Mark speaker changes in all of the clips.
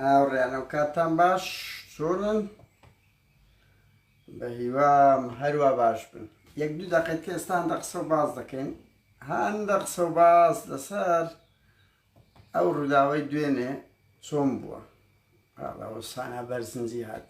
Speaker 1: هاوڕێیان ئەو کاتتان باش چۆنن بە هیوام هەروە باش بن یەک دوو دەقێت کە ئێستان دە قسە و باز دەکەین هەندە قسە و باز لەسەر ئەو ڕووداوەی دوێنێ چۆن بووە ئەوە سانا بەرزنجی هات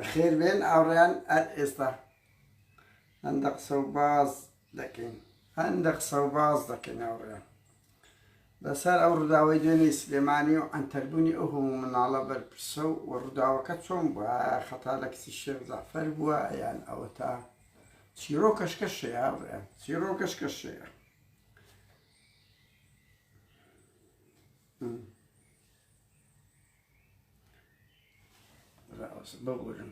Speaker 1: بەخێر بێن ئاوڕیان ئەر ئێستا هەندە قسە و باز دەکەین هەندە قسەو باس دەکەین هاوڕێیان لەسەر ئەو ڕووداوەی دوێنێ سلێمانی و ئەنتەربوونی ئەو هەموو مناڵە بەرپرسە و و ڕووداوەکە چۆن بووە خەتا لە کچی شێخ جەعفەر بووە یان ئەوە تا چیرۆ کەشکە شەیە هاوڕێیان چیرۆ کەشکە شەیە Mm. ببورن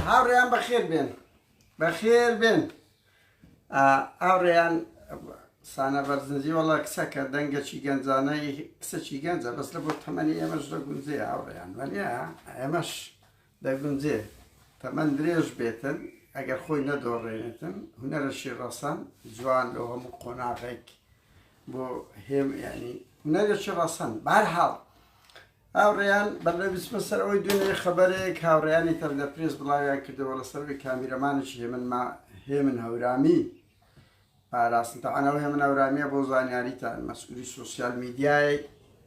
Speaker 1: هاوڕێیان بەخێر بێن بەخێر بێن ئاڕێیان سانە بەرزنجی وەڵا کچەکە دەنگەچی گەنجانەی کچەکی گەنجە بەس لە بۆ تەمەنی ئێمەش لە گونجێ ئاڕێیان وەنیا ئێمەش دەگونجێ تەمەن درێژ بێتن ئەگەر خۆی نەدۆڕێنێتن هونەرەشی ڕەسەن جوان لۆ هەموو قۆناغێک بۆ هێم ینی هونەرەشی ڕەسەن بار هاڵ هاوڕێیان بەلە بسمە سەر ئەوەی دوێنێ خەبەرێک هاوڕێیانی تەندە پرێز بڵاویان کردەوە لە سەروی کامیرەمانێکی هێمن ما هێمن هەورامی پاراستن تاعاەوە هێمن هەورامیە بۆ زانیاریتان مەسئولی سوسیال میدیایەک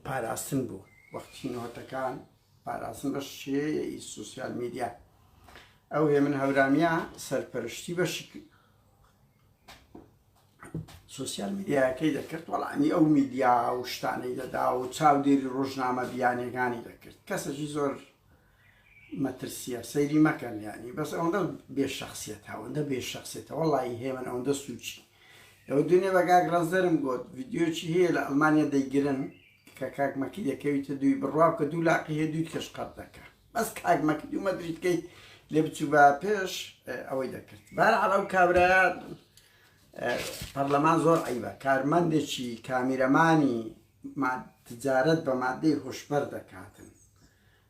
Speaker 1: پاراستن بوو وەختی نهۆتەکان پاراستن بە شێەی سوسیال میدیا ئەو هێ من هەورامیە سەرپەرشتی بەشی سوسیال میدیاکەی دەکرد وەڵامی ئەو میدیا و شتانەی دەدا و چاودێری ڕۆژنامە بیانەکانی دەکرد کەسەکی زۆر مەترسیە سەیری مەکەن ینی بەس ئەوەندە بێ شخصیت هاوەندە بێ شخصێتە وەڵی هێمن ئەوەندە سوچی ئەو دنیا بەگاک ڕزدەرم گوت یددیوچی هەیە لە ئەلمانیا دەیگرن کە کاک مەکی دەکەویتە دووی بڕوا کە دوو لاقی هەیە دووی کەش قەت دەکە بەس کاک مەکی دوو مەدریت کەیت لێ بچوو بە پێش ئەوەی دەکرد بار عەڵە و کابراە پەرلەمان زۆر عیبە کارمەندێکی کامیرەمانی تجارەت بە مادەی هۆشبەر دەکاتن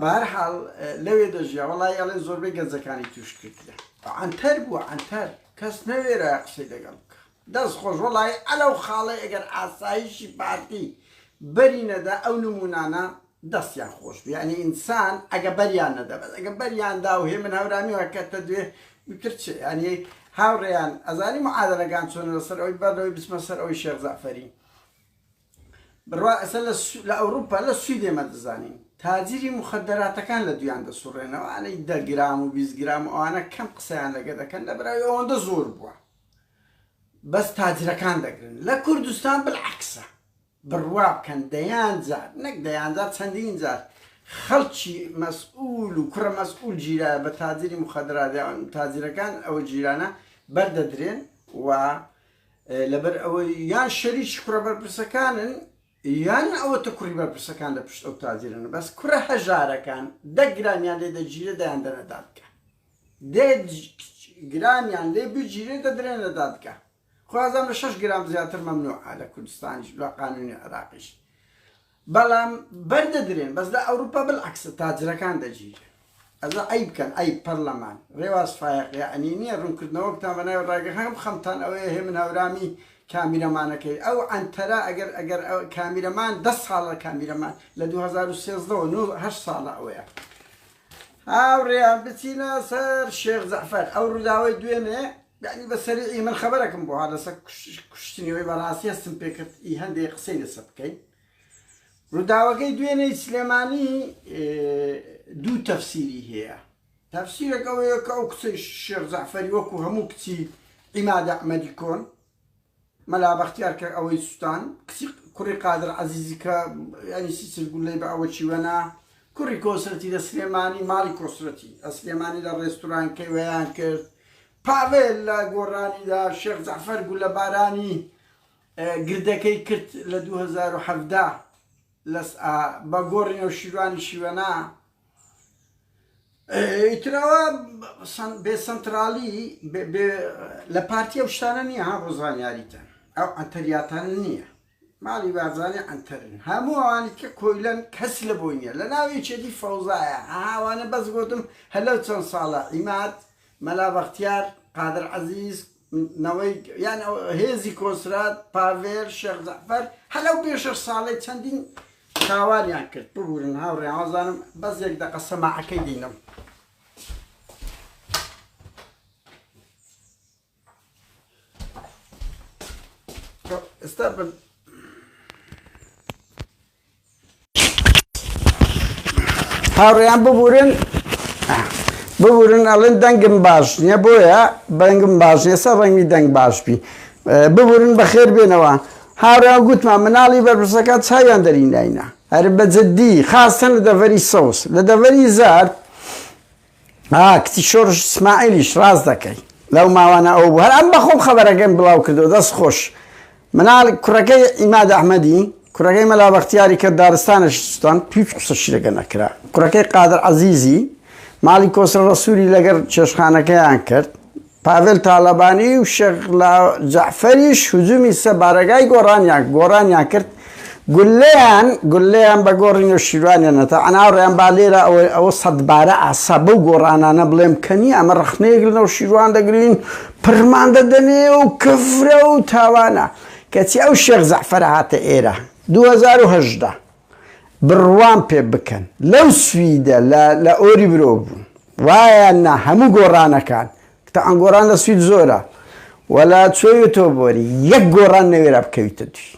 Speaker 1: بەهەرحاڵ لەوێ دەژیا وەڵای ئەڵێن زۆربەی گەنجەکانی توش کردیان عەنتەر بوو عەنتەر کەس نەوێرا قسەی دەگەڵ بکە دەست خۆش وەڵای ئەلەو خاڵەی ئەگەر ئاسایشی پارتی بەری نەدا ئەو نمونانە دەستیان خۆش بوو یعنی ئینسان ئەگە بەریان نەدا بەس ئەگە بەریان دا و هێ من هەورامی وەکەتە دوێ وتر چ ینی هاوڕێیان ئەزانی معادلەکان چۆنە لەسەر ئەوی بەر لەوەی بچمە سەر ئەوی شێخ زەعفەری بڕوا ئێستا لە ئەوروپا لە سوید ئێمە دەزانین تاجری مخدراتەکان لە دویان دەسوڕێنەوە ئەەی دە گرام و بیست گرام و ئەوانە کەم قسەیان لەگە دەکەن لە براوی ئەوەندە زۆر بووە بەس تاجرەکان دەگرن لە کوردستان بالعکسە بڕوا بکەن دەیان جار نەک دەیان جار چەندین جار خەڵکی مەسئول و کوڕە مەسئول گیرا بە تاجری مخدرات تاجرەکان ئەو جیرانە بەردەدرێن و لەبەر ئەوەی یان شەریکی کوڕە بەرپرسەکانن یان ئەوەتە کوڕی بەرپرسەکان لە پشت ئەو تاجرن بەس کوڕە هەژارەکان دە گرامیان لێ دەگیرێ دەیان دەنە دادگا دێ گرامیان لێ بگیرێ دەدرێنە دادگا خوازان لە شش گرام زیاتر مەمنوع لە کوردستانیش لە قانونی عراقیش بەڵام بەر دەدرێن بەس لە ئەوروپا بلعکسە تاجرەکان دەگیرێن ئەزا عەیب کەن عەیب پەرلەمان رێواز فایەق یەعنی نیە رونکردنەوەکتان بەناوی راگەخان بخەمتان ئەوەیە هێ من هەورامی کامیرەمانەکەی ئەو عەنتەرە ئەگەر ئەگەر کامیرەمان دە ساڵە کامیرەمان لە دوو هەزار و سێزدە و نۆ هەشت ساڵە ئەوەیە هاوڕێیان بچینە سەر شێخ جەعفەر ئەو رووداوەی دوێنێ یەعنی بە سەریعی من خەبەرەکم بۆ ها لەسە کوشتنی وەی بەڕاستی هەستم پێکرد ئی هەندێ قسەی لەسە بکەین ڕووداوەکەی دوێنێی سلێمانی دوو تەفسیری هەیە تەفسیرەکەەوەیە کە ئەو کچەی شێخ زەعفەری وەکو هەموو کچی ئیمادە ئەمەدی کۆن مەلا بەختیار کە ئەوەی سوتان کچی کوڕی قادر عەزیزی کە یانی سیسل گولەی بە ئەوە چی وەنا کوڕی کۆسرەتی لە سلێمانی ماڵی کۆسرەتی ئەسلێمانی لە ڕێستوران کەیوەیان کرد پاڤێل لە گۆڕانیدا شێخ جەعفەر گولە بارانی گردەکەی کرد لە 2017 لەس بە گۆڕینەوە شیروانی شیوەنا ئیتراوە بێ سنترالی لە پارتی ئەو شتانە نییە ها بۆ زانیاریتە ئەو ئەتەریاتان نییە ماڵی بازانێ ئەتەرن هەموو ئەوانیت کە کۆیلەن کەس لە بۆی نیە لە ناوی چێتی فەوزایە ئاوانە بەس گوتم هەلو چەند ساڵە ئیمات مەلا بەختیار قادر عزیز نەوەی یان هێزی کۆنسرات، پاڤێل، شێخ جەعفەر، هەر ئەو پێنج شەش ساڵەی چەندین تاوانیان کرد، ببورن هاوڕێیان وازانم بەس یەک دەقە سەماعەکەی دینەم. ئێستا هاوڕێیان ببورن ببورن ئەڵێن دەنگم باش نییە بۆیە بەنگم باش نیە سەر ڕەنگی دەنگ باش بی ببورن بەخێر بێنەوە هاوڕێیان گوتمان مناڵی بەرپرسەکان چاویان دەری ناینا هەر بەجددی خاستن لە دەڤەری سەوز لە دەڤەری زار ئا کچی شۆرش سمایلیش ڕاست دەکەی لەو ماوانە ئەوە بوو هەر ئەم بەخۆم خەبەرەکەم بڵاو کردەوە دەست خۆش منال کوڕەکەی عیماد ئەحمەدی کوڕەکەی مەلا بەختیاری کە دارستانێکی سوتان هیچ قسە شیرەکە نەکرا کوڕەکەی قادر عەزیزی ماڵی کۆسرە ڕەسووری لەگەر چێشخانەکەیان کرد پاڤێل تاڵەبانی و شێخ جەعفەریش هجوومی سە بارەگای گۆڕانیان گۆڕانیان کرد گولەیان گولەیان بە گۆڕی نەوشیروانێنە تا ئەناوڕێیان با لێرە ئەوەی ئەوە سەدبارە ئاسا بەو گۆڕانانە بڵێم کەنی ئەمە ڕخنەیەک لە نەوشیروان دەگرین پڕمان دەدەنێ و کفرە و تاوانە کەچی ئەو شێخ زەعفەرە هاتە ئێرە 2010 بڕوام پێ بکەن لەو سویدە لە لە ئۆریبرۆ بوون وایە نا هەموو گۆڕانەکان تەعەن گۆڕان لە سوید زۆرە وەلا چۆی تۆ بۆری یەک گۆڕان نەوێرا بکەویتە دوی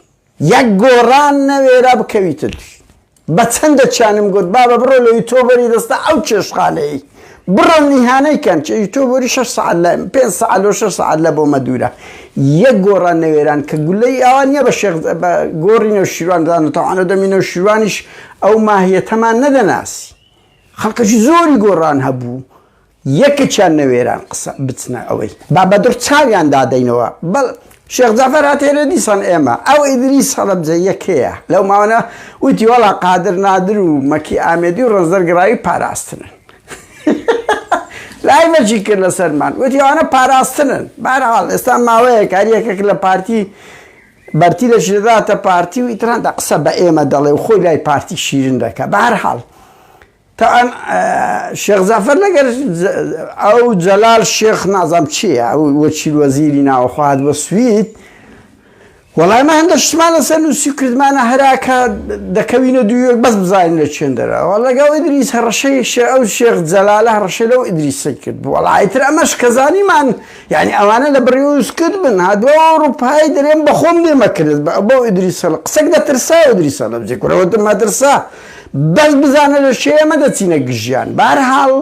Speaker 1: یەک گۆڕان نەوێرا بکەویتە دوی بە چەندە چانم گوت بابە بڕۆ لەوی تۆ بەری دەستە ئەو چێشخانەیە بڕۆن ئیهانەی کەن چ تۆ بۆری شەش سەعات لە پێنج سەعات لۆ شەش سەعات لە بۆمە دوورە یەک گۆڕان نەوێران کە گولەی ئەوان نیە بە شێخ بە گۆڕی نەوشیروان دانە تەوانە دەمی نەوشیروانیش ئەو ماهیەتەمان نەدەناسی خەڵکەشی زۆری گۆڕان هەبوو یەکەچیان نەوێران قسە بچنە ئەوەی بابەدڕ چاویان دادەینەوە بەڵ شێخ جەعفەر هاتێنە دیسان ئێمە، ئەو ئیدریس هەڵەبجەییە کێیە؟ لەو ماوانە وتی وەڵا قادر نادر و مەکی ئامێدی و ڕەنجدەر گڕاوی پاراستنن. لای مەکی کرد لەسەرمان، وتی ئەوانە پاراستنن. بە هەر حاڵ ئێستا ماوەیەکە هەر یەکێک لە پارتی بەرتی لەشی دەداتە پارتی و ئیتر هەندە قسە بە ئێمە دەڵێ و خۆی لای پارتی شیرن دەکا. بە هەر حاڵ تاان شێخ جەعفەر لەگەر ئەو جەلال شێخ نازام چیە ئەو وەکیل وەزیری ناوەخوا هاتبە سوید وەڵای من هەندە شتمان لەسەر نووسی کردمانە هەراکە دەکەوینە دوویەک بەس بزانین لە چێن دەرەوە لەگەڵ ئیدریس هەڕەشەی شێ ئەو شێخ جەلالە هەڕەشە لەو ئیدریسی کرد بوو وەڵایتر ئەمەش کەزانیمان یعنی ئەوانە لە بڕیوز کرد بن هادووە ئەوروپای دەرێن بەخۆم دێمەکرد بە بۆ ئیدریسە قسەک دەترسا ئیدریسە لە بجێکورەوە دمەترسا بەس بزانە لە شێ ئێمە دەچینە گژیان بەهەرحاڵ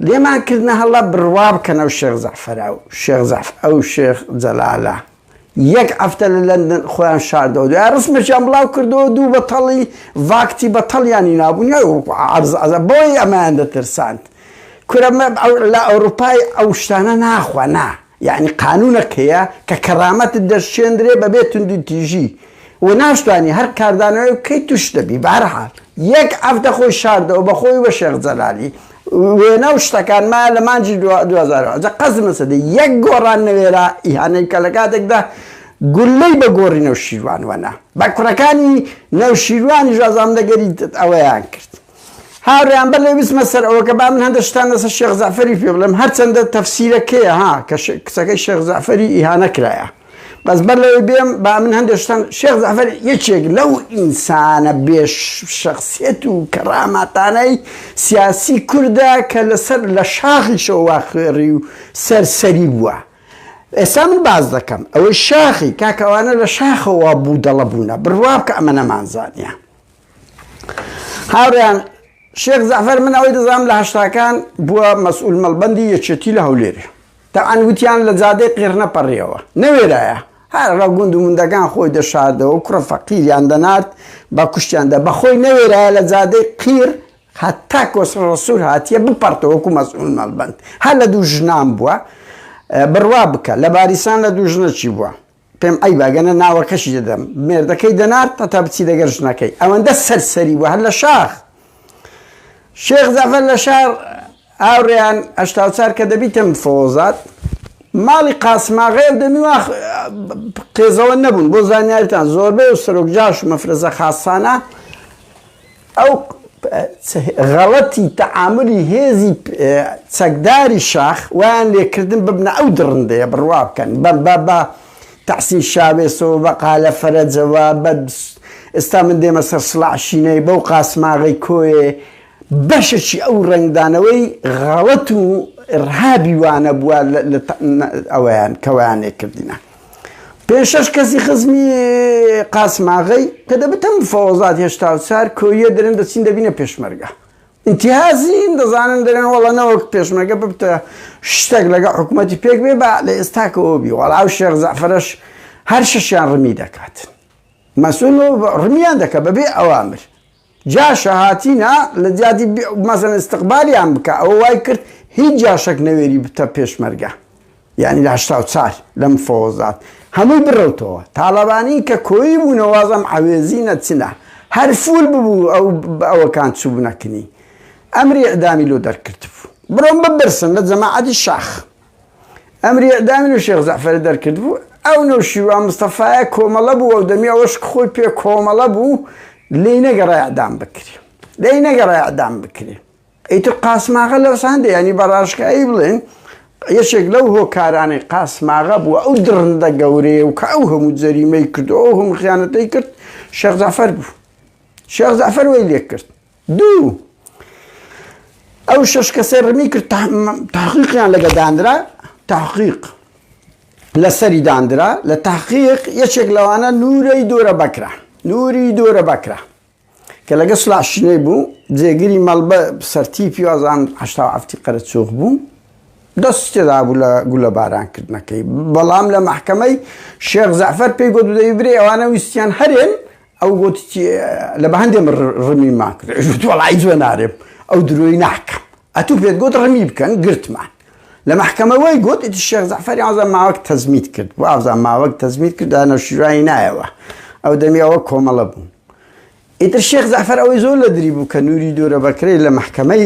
Speaker 1: لێمان کردنە هەڵە بڕوا بکەن ئەو شێخ زەعفەرە و شێخ زەعف ئەو شێخ جەلالە یەک هەفتە لە لەندەن خۆیان شاردەوە دوای ڕسمێکیان بڵاو کردەوە دوو بەتەڵی ڤاکتی بەتەڵیانی نابوون عەرزعەزە بۆی ئەمایان دەترساند کورە لە ئەوروپای ئەو شتانە ناخوا نا یەعنی قانوونەک هەیە کە کەرامەتت دەشکێندرێ بەبێ توندوتیژی و ناشتوانی هەر کاردانەوەیەک بکەی تووش نەبی بەهەرحال یەک هەفتە خۆی شاردەوە بە خۆی و بە شێخ جەلالی وێنە و شتەکان مایە لە مانگی دوو هەزار و حەڤدە جا قەزی مەسەدی یەک گۆڕان نەوێرا ئیهانەی بکا لە کاتێکدا گوللەی بە گۆڕی نەوشیروان وەنا بە کوڕەکانی نەوشیروانیش ئەزانم دەگەری ئەوەیان کرد. هاوریان بە لێ بچمە سەر ئەوەکە با من هەندە شتان لەسەر شێخ زەعفەری پێ بڵێم هەرچەندە تەفسیرەکەیە ها کە کچەکەی شێخ زەعفەری ئیهانە کرایە بەس بەر لەوەی بێم با من هەندێشتان شێخ زەفەر یەکێک لەو ئینسانە بێش شخصیت و کەڕاماتانەی سیاسی کووردا کە لەسەر لە شاخیشەوە خوێڕی و سەرسەری بووە ئێستا من باز دەکەم ئەوەی شاخی کاکەوانە لە شاخەوە بوو دەڵە بوونە بڕواب کە ئەمە نەمانزانە هاوڕێیان شێخ زەعفەر من ئەوەی دەزانم لە هەشتاکان بووە مەسئول مەڵبەندی یەکێتی لە هەولێرێ تەعان وتیان لە جادەی قێرنە پەڕیەوە نەوێرایە هەر ڕە گوند و مندەکان خۆی دەشاردەوە کوڕە فەقیریان دەنارد بە کوشتیاندا بەخۆی نەوێرایە لە جادەی قیر هەتا کۆسڕ ڕسوور هاتیە بپەرتەوەکو مەسئول مەڵبند هەر لە دوو ژنان بووە بڕوا بکە لە باریسان لە دوو ژنەچی بووە پێم عەیبە ئەگەرنا ناوەکەشی دەدەم. مێردەکەی دەنارد هەتا بچی لەگەر ژنەکەی. ئەوەندە سەرسەری بوو هەر لە شاخ. شێخ جەعفەر لە شار هاوڕێیان هەشتا و چار کە دەبیتم فۆزات ماڵی قاسماغای و دەمیوا قێزەوە نەبوون بۆ زانیاریتان زۆربەی و سەرۆک جاش و مەفرەزە خاسانە ئەو غەڵەتی تەعامولی هێزی چەکداری شاخ وایان لێکردن ببنە ئەو دڕندەیە بڕوا بکەن بە بە بە تەحسین شاوێسەوە بە قالە فەرەجەوە بە ئێستا من دێمە سەر سڵاح شینەی بەو قاسماغەی کۆیێ بەشەکی ئەو ڕەنگدانەوەی غەڵەت و ڕهابی وانە بووە ئەویان کەوایان لێکردینە. پێنج شەش کەسی خزمی قاسماغەی کە دەبتم فەوەزات هێشتا و چار کۆیە دەرن دەچین دەبینە پێشمەرگە ئینتیهازین دەزانن دەرێن وەڵە نەوەک پێشمەرگە ببتە شتێک لەگە حکوومەتی پێک بێ بە لە ئێستاکەەوە بی وەڵا و شێخ زەفرەش هەر شەشیان ڕمی دەکات مەسول ڕمیان دەکە بەبێ ئەوامر جاشە هاتینە لە جادی مەسەن استقبالیان بکە ئەوە وای کرد هیچ جاشەک نەوێری بتە پێشمەرگە یانی لە هەشتا و چار لە مفەوەزات هەمووی بڕەوتەوە تاڵەبانی کە کۆیی بوونە وازم عەوێزی نەچنە هەر فول ببوو ئەو ئەوەکان چوبنە کنی ئەمری ئیعدامی لۆ دەرکرد بوو بڕۆن ببرسن لە جەماعەتی شاخ. ئەمری ئیعدامی نەو شێخ جەعفەرە دەرکردبوو، ئەو نەوشیروان مستەفایە کۆمەڵە بوو ئەو دەمی ئەوەش کە خۆی پێ کۆمەڵە بوو لێی نەگەڕا ئیعدام بکرێ لێی نەگەڕا ئیعدام بکرێ ئیتر قاسماغە لەو سان دەیانی بە ڕاشکایی بڵێن یەکێک لەو هۆکارانەی قاسماغە بوو ئەو دڕندە گەورەیە و کە ئەو هەموو جەریمەی کرد و ئەو هەموو خیانەتەی کرد شێخ جەعفەر بوو شێخ جەعفەر وەی لێ کرد دوو، ئەو شەش کەسەی ڕمی کرد تەحقیقیان لەگە داندرا، تەحقیق لەسەری داندرا، لە تەحقیق یەکێک لەوانە نوورەی دۆرە بەکرە، نووری دۆرە بەکرە کە لەگە سڵاح شنەی بوو، جێگری مەڵبە سەرتیپی وازان هەشتا و حەفتی قەرەچووغ بوو، دەستی تێدا بوو لە گولەباران کردنەکەی، بەڵام لە مەحکەمەی شێخ زەعفەر پێی گوت دەی برێ ئەوانە ویستیان هەرێن ئەو گوت لە بەهەندێ من ڕمی ماک گوت وەڵا هیچ وە نارێم ئەو درۆی ناکەم ئەتوو پێت گوت ڕمی بکەن گرتمان لە مەحکەمە وای گوت ئیتر شێخ جەعفەری ئازا ماوەک تەزمیت کرد بۆ ئازا ماوەک تەزمیت کرد دا نەوشیروانی نایەوە ئەو دەمی ئەوە کۆمەڵە بوو ئیتر شێخ جەعفەر ئەوەی زۆر لە دری بوو کە نوری دورە بەکرەی لە مەحکەمەی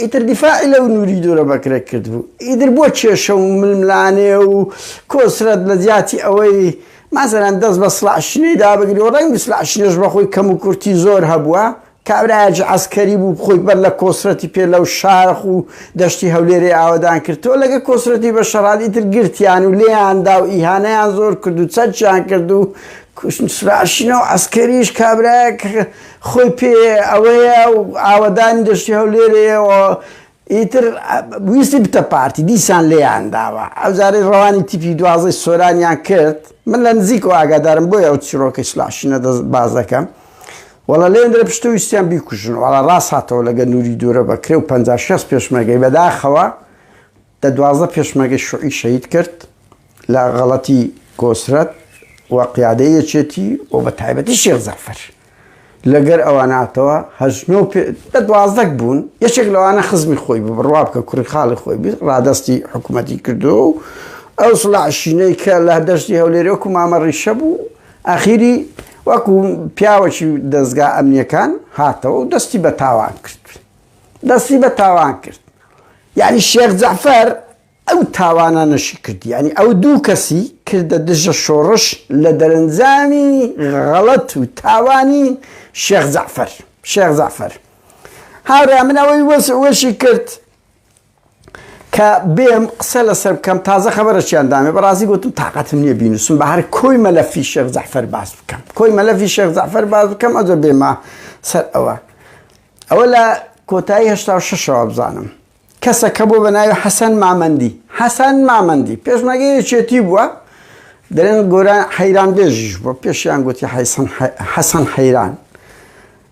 Speaker 1: ئیتر دیفاعی لەو نوری دورە بەکرێ کردبوو ئیدر بۆ کێشە و ململانێ و کۆسرەت لە جیاتی ئەوەی مەسەلەن دەست بە سڵاح شنێ دا بگری و ڕەنگ سلاح شنێش بە خۆی کەم و کورتی زۆر هەبووە کابرایەکی عەسکەری بوو خۆی بەر لە کۆسرەتی پێ لەو شاخ و دەشتی هەولێرێ ئاوەدان کرد تۆ لەگە کۆسرەتی بە شەڕال ئیتر گرتیان و لێیان دا و ئیهانەیان زۆر کرد و چەکیان کرد و سلاح شنە و عەسکەریش کابرایەک خۆی پێ ئەوەیە و ئاوەدانی دەشتی هەولێرێیە و ئیتر ویستی بتە پارتی دیسان لێیان داوە ئەوجارەی ڕەوانی تیپی دوازدەی سۆرانیان کرد من لە نزیکەوە ئاگادارم بۆیە ئەو چیڕۆکەی سلاح شینە دەست باز دەکەم وەڵا لێن درە پشتە ویستیان بیکوژن وەڵا ڕاست هاتەوە لەگە نوری دورە بەکرێ و پەنجا شەست پێشمەرگەی بەداخەوە دە دوازدە پێشمەرگەی شوعی شەهید کرد لە غەڵەتی کۆسرەت و قیادەی یەکێتی و بە تایبەتی شێخ زەفەر لەگەر ئەوە ناتەوە هەژنۆ دە دوازدەک بوون یەکێک لەوانە خزمی خۆی بوو بڕوا بکە کوڕی خاڵی خۆی بیست ڕادستی حکوومەتی کردو و ئەو سڵعشینەی کە لە دەشتی هەولێرۆک و مامە ڕیشە بوو ئاخیری وەکو پیاوەکی دەستگا ئەمنیەکان هاتەوە و دەستی بە تاوان کرد. دەستی بە تاوان کرد یانی شێخ جەعفەر ئەو تاوانانەشی کرد یانی ئەو دوو کەسی کردە دژە شۆڕش لە دەرەنجامی غەڵەت و تاوانی شێخ جەعفەر شێخ جەعفەر هاورێ من ئەوەی وەشی کرد کە بێم قسە لەسەر بکەم تازە خەبەرەچیان دامێ بەڕازی گوتم تااقەتم نییە بینوسم بە هەر کۆی مەلەفی شێخ زەحفەر باز بکەم کۆی مەلەفی شێخ زەحفەر باز بکەم ئەجە بێمە سەر ئەوە ئەوە لە کۆتایی هشتا شەوە بزانم کەسەکە بۆ بە ناوی حەسەن مامەندی حەسەن مامەندی پێشمەگە یەکێتی بووە دەێن گۆران حەیران بێژیش بۆ پێشیان گوتی حەسەن حەیران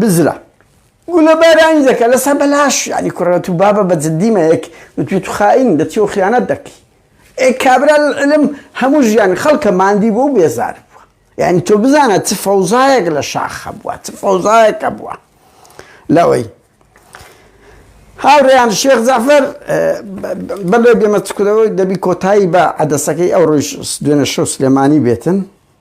Speaker 1: بزرە گولە بارانی دەکە لەسە بەلاش یانی کوڕە تو بابە بە جدی مەیەک وتوی تو خائین دەچی و خیانەت دەکی ئێ کابرا علم هەموو ژیان خەڵکە ماندی بۆ و بێزار بووە یانی تۆ بزانە چ فەوزایەک لە شاخ هەبووە چ فەوزایەک هەبووە لەوەی هاوڕێیان شێخ زەفەر بەڵێ بێمە چکرەوەی دەبی کۆتایی بە عەدەسەکەی ئەو ڕۆژ دوێنە شەو سلێمانی بێتن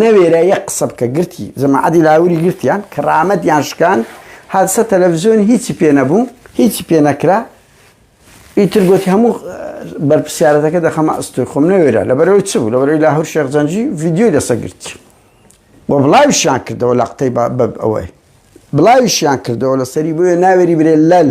Speaker 1: نەوێرا یەک قسە بکە گرتی جەماعەتی لاهوری گرتیان کەڕامەتیان شکان هاتسە تەلەڤزیۆن هیچی پێ نەبوو هیچی پێ نەکرا ئیتر گوتی هەموو بەرپسیارەتەکە دەخەمە ئەستۆی خۆم نەوێرا لەبەرەوەی چ بوو لەبەرەوەی لاهور شێخ جەنجی ڤیدیۆی لەسە گرتی و بڵاویشیان کردەوە لە قتەی بە ئەوەی بڵاویشیان کردەوە لەسەری بۆیە ناوێری برێ لەل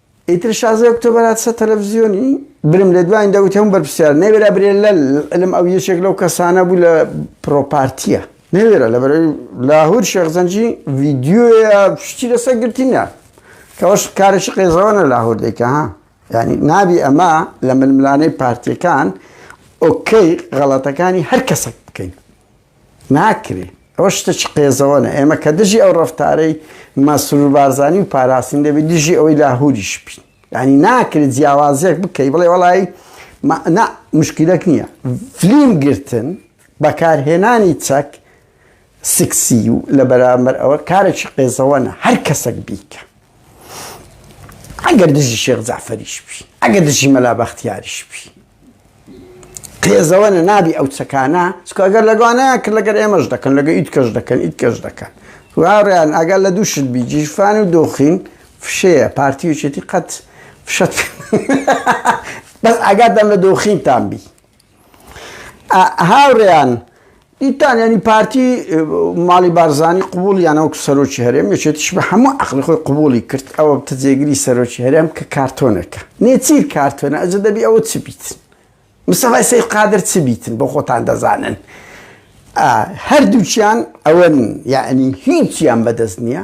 Speaker 1: ئیتر شازە ئۆکتۆبەر هات سەر تەلەفزیۆنی برم لە دوایین دەوتی هەموو بەرپرسیار نەوێرا برێ لە لەم ئەو یەکێک لەو کەسانە بوو لە پرۆپارتیە نەوێرە لە بەرەوەی لاهور شێخزەنجی ڤیددیۆیە شتی لەسەر گرتنە کەەوەش کارێکی قێزەوەە لاهور دەیکە ها ینی نابی ئەمە لە ململانەی پارتیەکان ئۆکەی غەڵەتەکانی هەر کەسێک بکەین ناکرێ ئەوە شتەکی قێزەوەنە ئێمە کە دژی ئەو ڕفتارەی مەسرور بارزانی و پاراستین دەبی دژی ئەوەی لاهوریش بین ینی ناکرێت جیاوازیەک بکەی بڵێ وڵی نا مشکلەک نییە فلیم گرتن بەکارهێنانی چەک سکسی و لە بەرامبەر ئەوە کارێکی قێزەوەە هەر کەسەک بیکە ئەگەر دژی شێخ زعفەریش بی ئەگەر دژی مەلا بەختیاریش بی قێزەوەنە نابی ئەو چەکانە چکە گەر لەگوانەیە کە لەگەر ئێمەش دەکەن لەگە ئیت کەش دەکەن ئیت کەش دەکەن واڕیان ئەگەر لە دوو شت بی جیرفان و دۆخین فشەیە پارتی و چێتی قەت فشەت بەس ئاگادام لە دۆخینتان بی هاوڕێیان دیتان یانی پارتی ماڵی بارزانی قوبولی یانە وەکو سەرۆکی هەرێم یەکێتیش بە هەموو عقلی خۆی قوبولی کرد ئەوە بتە جێگری سەرۆکی هەرێم کە کارتۆنەکە نێچی کارتۆنە ئەجە دەبی ئەوە چ بیت مسەفای سید قادر چ بیتن بۆ خۆتان دەزانن هەردووچیان ئەوەن یعنی هیچیان بەدەست نییە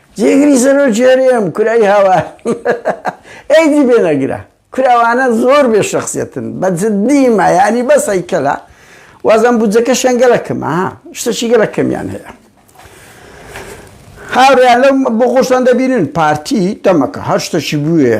Speaker 1: جێگری سەرۆکی هەرێم کورای هاوار ئێدی بێ نەگرە کورا وانە زۆر بێ شەخسیەتن بە جدی ما یانی بەس هەیکەلە وازان بودجەکەشیان گەلە کەمە ها شتەکی گەلە کەمیان هەیە هاوریان لەم بۆ خۆشتان دەبینن پارتی دەمەکە هەر شتەکی بوێ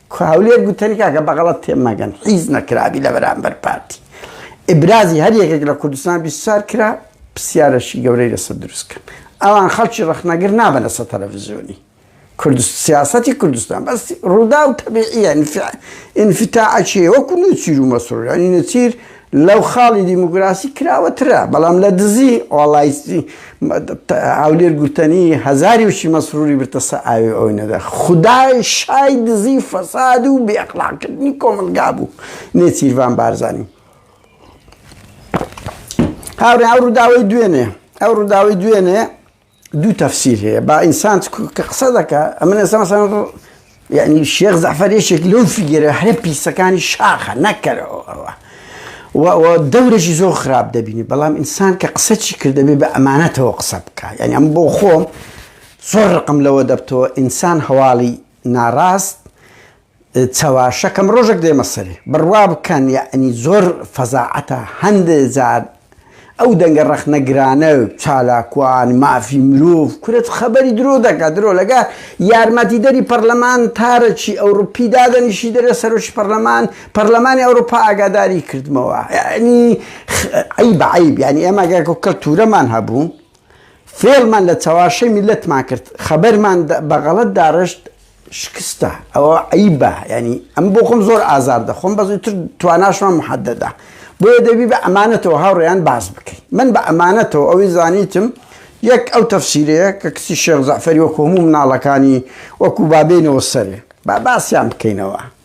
Speaker 1: کوڕە هەولێر گوتەنی کاکە بەغەڵەت تێ مەگەن حیز نەکرابی لە بەرامبەر پارتی ئیبرازی هەر یەکێک لە کوردستان بیسار کرا پرسیارەشی گەورەی لەسەر دروست کرد ئەوان خەڵکی ڕەخنەگر نابەنە سە تەلەڤزیۆنی کوردست سیاستی کوردستان بەس ڕوودا و تەبیعیە ئینفتا ئەچێ وەکو نوچیر و مەسرور ینی نەچیر لەو خاڵی دیموکراسی کراوەترە بەڵام لە دزی ئۆڵایستی هاولێر گوتەنی هەزاری وشی مەسروری برتەسە ئاوێ ئەوی نەدا خدای شای دزی فەساد و بێخلاکردنی کۆمەلگا بوو نێچیرڤان بارزانانی هاورێ ئەو ڕووداوی دوێنێ ئەو ڕووداوی دوێنێ دوو تەفسیر هەیە با ئینسان کە قسە دەکە ئەمە نەسەمەسان یعنی شێخ زەفەر یەکێک لەو فیگەرە هەرە پیسەکانی شاخە نەکەرەوە ئەوە دەورێکی زۆر خراپ دەبینی بەڵام ئینسان کە قسە چی کردەبێ بە ئەمانەتەوە قسە بکە یعنی ئەم بۆ خۆم زۆر ڕقم لەوە دەبتەوە ئینسان هەواڵی ناڕاست چەواشەکەم ڕۆژەک دێمە سەری. بڕوا بکەن یەعنی زۆر فەزاعەتە هەندێ جار ئەو دەنگە ڕەخنە گرانە چالاکوان مافی مرۆڤ کورە خەبەری درۆ دەکا درۆ لەگە یارمەتی دەری پەڕلەمان تارەکی ئەوڕوپی دادەنیشی دەرێ سەرۆکی پەڕلەمان پەڕلەمانی ئەوڕوپا ئاگاداری کردمەوە یەعنی عەیبە عەیب یەعنی ئێمە گەر کەلتورەمان هەبوو فێڵمان لە چەواشەی میللەتمان کرد خەبەرمان بە غەڵەت داڕشت شکستە ئەوە عیبە ینی ئەم بۆ خۆم زۆر ئازار دەخۆم بەزی تر تواناشمان محەدەدا بۆیە دەبی بە ئەمانەتەوە هاوڕێیان باز بکەین من بە ئەمانەتەوە ئەوی زانیتم یەک ئەو تەفسیرەیە کە کسی شێخ زەعفەری وەکو هەموو مناڵەکانی وەکو بابێنەوە سەرێ با باسیان بکەینەوە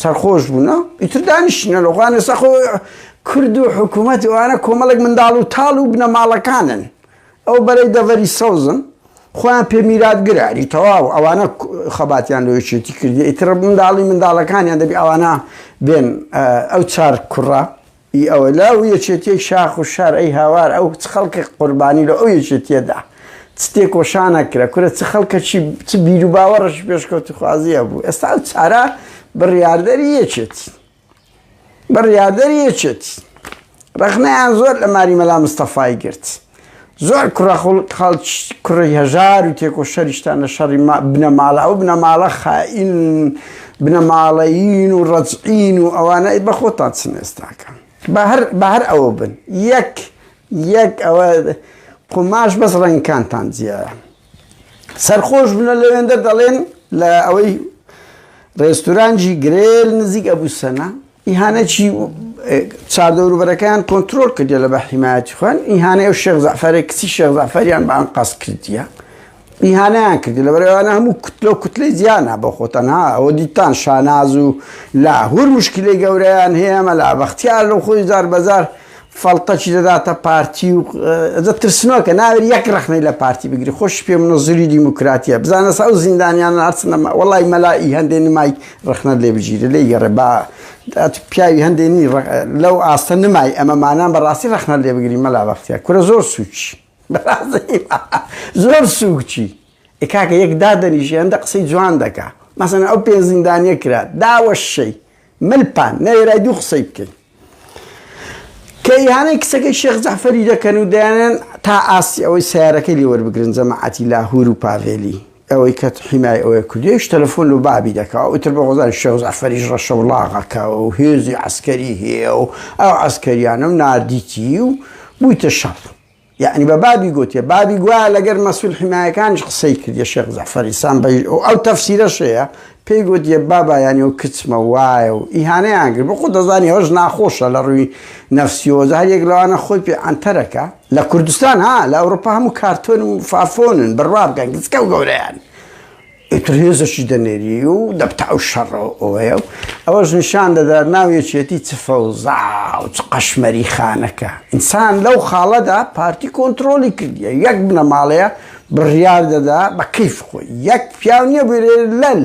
Speaker 1: سەرخۆش بوون ئیتر دانیشتنە لەوانە سەخۆ کورد و حکوومەت وانە کۆمەڵێک منداڵ و تاڵ و بنەماڵەکانن ئەو بەرەی دەڤەری سەوزن خۆیان پێ میراتگراری تەواو ئەوانە خەباتیان لۆیشێتی کردی ئیتر منداڵی منداڵەکانیان دەبی ئەوانە بێن ئەو چار کوڕە ی ئەوە لا و یەکێتیەی شاخ و شار ئەی هاوار ئەو چ خەڵکەک قوربانی لۆ ئەو یەکێتیە دا چ تێکۆشانەک کرا کورە چ خەڵکەکی چ بیرو باوەڕەکی پێشکەوتوخوازی هەبوو ئێستا ئەو چارە بڕیاردەری یەکێتین بڕیاردەری یەکێتین ڕەخنەیان زۆر لە ماری مەلا مستەفای گرت. زۆر کوڕە خەڵکی کوڕی هەژار و تێکۆشەریشتان لە شەڕی بنەماڵە ئەو بنەماڵە خائین بنەماڵەیین و ڕەجعین و ئەوانە بە خۆتان چن ئێستاکە بە هەر ئەوە بن یەک یەک ئەوە قوماش بەس ڕەنگکانتان جیایە سەرخۆش بنە لەوێندە دەڵێن لە ئەوەی ڕێستورانجی گرێل نزیک ئەبوو سەنا ئیهانەکی چادەوروبەرەکەیان کۆنتترۆل کردە لە بە حیمایەتی خوێن ئیهانەیە و شێخ زەفەرێ کچی شێخ زەفەریان بەان قاس کردیە ئیهانیان کرد لە بەرەوانە هەموو کوتلە و کوتلەی زیانە بە خۆتەنها ئەوە دیتان شاناز و لا هور مشکلی گەورەیان هەیە مەلا بەختیار لەو خۆی زار بەزار فەڵتەکی دەداتە پارتی و ئەجە ترسنۆکە ناوێت یەک ڕەخنەی لە پارتی بگری خۆش پێ منە زوری دیموکراتیە بزانە سا ئەو زیندانیان هەرچنەمە وڵی مەلائی هەندێ نمای ڕخنە لێ بگیرە لێ گەڕێ با پیاوی هەندێنی لەو ئاستە نمای ئەمە مانان بەڕاستی ڕەخنە لێ بگری مەلا بەختە کورە زۆر سوچی زۆر سوکچی ئکاکە یەک دادەنیژ هەندە قسەی جوان دەکا مەسەن ئەو پێ زیندانیە کرا داوەشەی ملپان نەێرای دوو قسەی بکەین کە ئیهانەی کچەکەی شێخ جەعفەری دەکەن و دەیانێن تا ئاستی ئەوەی سەیارەکەی لێ وەربگرن جەماعەتی لاهور و پاڤێلی ئەوەی کە حیمای ئەوێ کردوویش تەلەفۆن لۆ بابی دەکا و ئیتر بە غۆزانی شێخ جەعفەریش ڕەشەوڵاغەکە و هێزی عەسکەری هەیە و ئەو عەسکەریانەم ناردیتی و بوویتە شەڕ. یەعنی بە بابی گۆتیە بابی گوایە لەگەر مەسول حیمایەکانیش قسەی کردیە شێخ جەعفەری سامبەیش ئەو ئەو تەفسیرە شەیە پێی گۆتیە بابایانی و کچمە وایە و ئیهانەیان کرد بۆ خۆ دەزانی ئەوش ناخۆشە لە ڕووی نەفسیۆزە هەر یەک لەوانە خۆی پێ ئەنتەرەکە لە کوردستان ها لە ئەوروپا هەموو کارتۆن و فافۆنن بڕوا بکەن گچکە و گەورەیان ئیتر هێزەکی دەنێری و دەبتە ئەو شەڕەوەیە و ئەوەش نیشان دەدات ناو یەکێتی چ فەوزا و چ قەشمەری خانەکە ئینسان لەو خاڵەدا پارتی کۆنتترۆلی کردیە یەک بنەماڵەیە بڕیار دەدا بە کەیف خۆی یەک پیاو نییە بێ لەل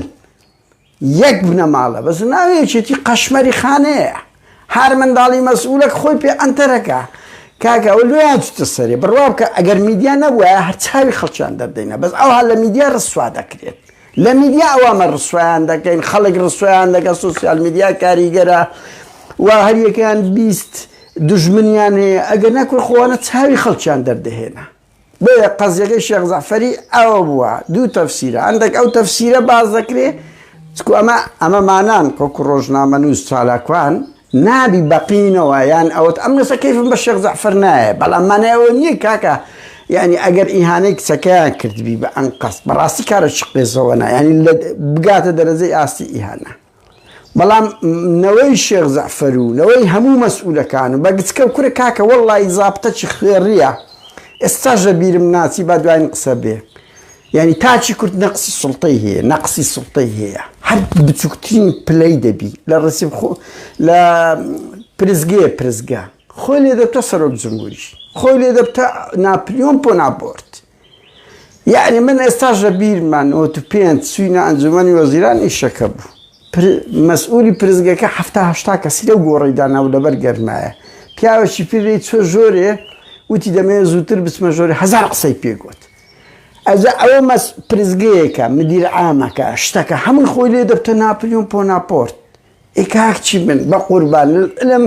Speaker 1: یەک بنەماڵە بەس ناوێکێتی قەشمەری خانەیە هەر منداڵی مەسئولەک خۆی پێ ئەنتەرەکا. کاکە ئەوە لۆیان چوتە سەرێ بڕوا بکە ئەگەر میدیا نەبوایە هەر چاوی خەڵکیان دەردەینا بەس ئەوها لە میدیا ڕسوا دەکرێن لە میدیا ئەوامە ڕسوایان دەکەین خەڵک ڕسوایان دەکە سوسیال میدیا کاریگەرە و هەریەکەیان بیست دژمنیان هەیە ئەگەر نەکوێ خۆوانە چاوی خەڵکیان دەردەهێنا بۆیە قەزیەکەی شێخ زەعفەری ئەوە بووە دوو تەفسیرە هەندێک ئەو تەفسیرە باز دەکرێ چکو ئەمە ئەمە مانان کۆکو ڕۆژنامە نووس چالاکوان نابی بەقینەوە یان ئەوت ئەم نووسە کەیفم بە شێخ زەعفەر نایە بەڵام مانایەوە نییە کاکە یعنی ئەگەر ئیهانەی کچەکەیان کردبی بە ئەنقەست بەڕاستی کارە چ قێزەوە نایانی بگاتە دەرەجەی ئاستی ئیهانە بەڵام نەوەی شێخ جەعفەر و نەوەی هەموو مەسئولەکان و بە گچکەو کورە کاکە وەڵڵایی زابتە چ خوێڕیە ئێستاش لە بیرم ناچی با دواین قسە بێ یانی تاکی کورد نەقسی سوڵتەی هەیە نەقسی سوڵتەی هەیە هەر بچوکترین پلەی دەبی لە ڕسیب خۆ لە پرسگەیە پرسگە خۆی لێ دەبتە سەرۆک جمهوری خۆی لێ دەبتە ناپلیۆن پۆنابۆرت یەعنی من ئێستاش لە بیرمە نۆت و پێنج چوینە ئەنجومەنی وەزیران ئیشەکە بوو پر مەسئولی پرسگەکە حەفتا هەشتا کەسی لەو گۆڕەی دانابوو لەبەر گەرمایە پیاوێکی پیر لێی چوە ژۆرێ وتی دەمەوێ زووتر بچمە ژۆرێ هەزار قسەی پێ گوت ئەجا ئەوە مەس پرسگەیەکە مدیر عامەکە شتەکە هەمووی خۆی لێ دەبتە ناپلیۆن پۆناپۆرت ئێ کاک چی بن بەقوربان لەم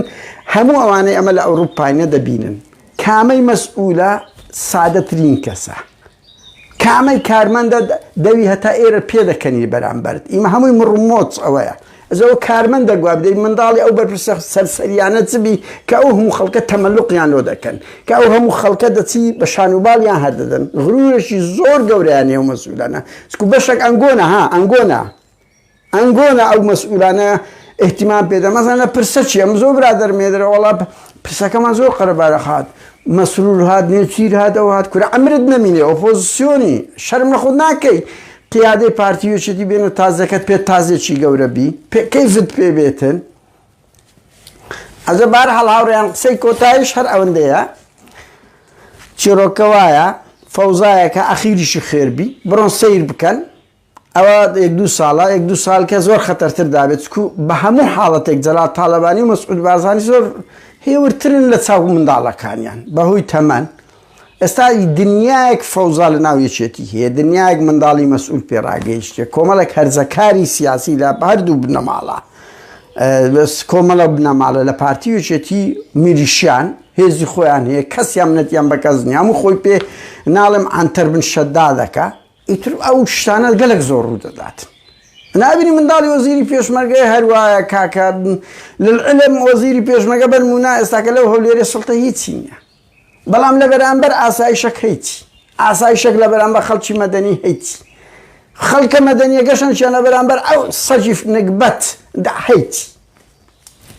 Speaker 1: هەموو ئەوانەی ئەمە لە ئەوروپاینە دەبینن کامەی مەسئولە سادەترین کەسە کامەی کارمەندە دەوی هەتا ئێرە پێدەکەنی بەرامبەرت ئیمە هەمووی مڕمۆچ ئەوەیە ئەزەوە کارمەند دەگواب دەی منداڵی ئەو بەرپرسە سەرسەریانە چبی کە ئەو هەموو خەڵکە تەمەلوقیان لۆ دەکەن کە ئەو هەموو خەڵکە دەچی بە شانوباڵیان هەردەدەن غرورێکی زۆر گەورەیان نێو مەسولانە چکو بەشێک ئەنگۆنە ها ئەنگۆنا ئەنگۆنا ئەو مەسئولانە ئیهتیمام پێ دەن مەزان لە پرسە چیە من زۆر برادەرم هەیە دەرێ وەڵا پرسەکە من زۆر قەرەبارە خات مەسرور هات نێچیر هات ئەو هات کورە عەمرت نەمینێ ئۆپۆزسیۆنی شەرم لە خۆت ناکەی قیادەی پارتی وێچێتی بێنە تازەکەت پێ تازێکی گەورە بی پێ کەیفت پێ بێتن ئەزە بار هەڵ هاوڕێیان قسەی کۆتایش هەر ئەوەندەیە چیرۆکە وایە فەوزایەکە ئەخیریشی خێربی بڕۆن سیر بکەن ئەوە یەک دوو ساڵە، یەک دوو ساڵ کە زۆر خەتەرتر دابێت، چکو بە هەموو حاڵەتێک جەلال تاڵەبانی و مەسعود بارزانی زۆر هێورترن لە چاو منداڵەکانیان بە هۆی تەمەن. ئێستا دنیایەک فەوزا لە ناو یەکێتی هەیە، دنیایەک منداڵی مەسعود پێ ڕاگەیشتە، کۆمەڵێک هەرزەکاری سیاسی لە هەر دوو بنەماڵە، کۆمەڵە بنەماڵە لە پارتی و یەکێتی میلیشیان هێزی خۆیان هەیە، کەسیان نەتیان بە کەس نییە، هەموو خۆی پێ ناڵێم عەنتەر بن شەدادەکە، ئیتر ئەو شتانە گەلەک زۆر ڕوو دەدات نابینی منداڵی وەزیری پێشمەرگەی هەروایە کاکە لەعلم وەزیری پێشمەگە بەر مونا ئێستاکە لەو هەولێری سڵتە هیچی نییە بەڵام لە بەرامبەر ئاسایشەک هەیتی ئاسایشەک لە بەرامبەر خەڵکی مەدەنی هەیتی خەڵکە مەدەنیە گەشەنشیان لە بەرامبەر ئەو سەجیف نگبەت داحیت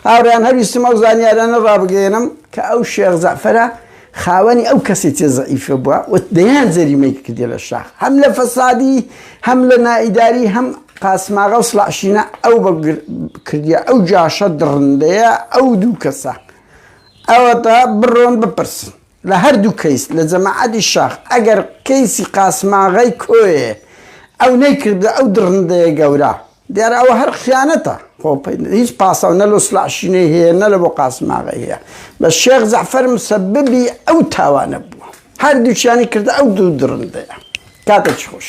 Speaker 1: هاوڕێیان هەویستم ئەو زانیارانە ڕابگەیەنم کە ئەو شێخ جەعفەرە خاوەنی ئەو کەسێتی زەعیفە بووە و دەیان جەریمەی کردیە لە شاخ هەم لە فەسادی هەم لە نائیداری هەم قاسماغە و سڵعشینە ئەو بە کردیە ئەو جاشە دڕندەیە ئەو دوو کەسە ئەوەتا بڕۆن بپرسن لە هەردوو کەیس لە جەماعەتی شاخ ئەگەر کەیسی قاسماغی کۆیێ ئەو نەیکردە ئەو دڕندەیە گەورە دیارە ئەوە هەر خیانەتە خۆ هیچ پاساو نە لە سڵاح شینەی هەیە نە لە بۆ قاسم ئاغای هەیە بە شێخ جەعفەر مسەببی ئەو تاوانە بووە هەردووچیانی کردە ئەو دوو دڕندەیە کاتێکی خۆش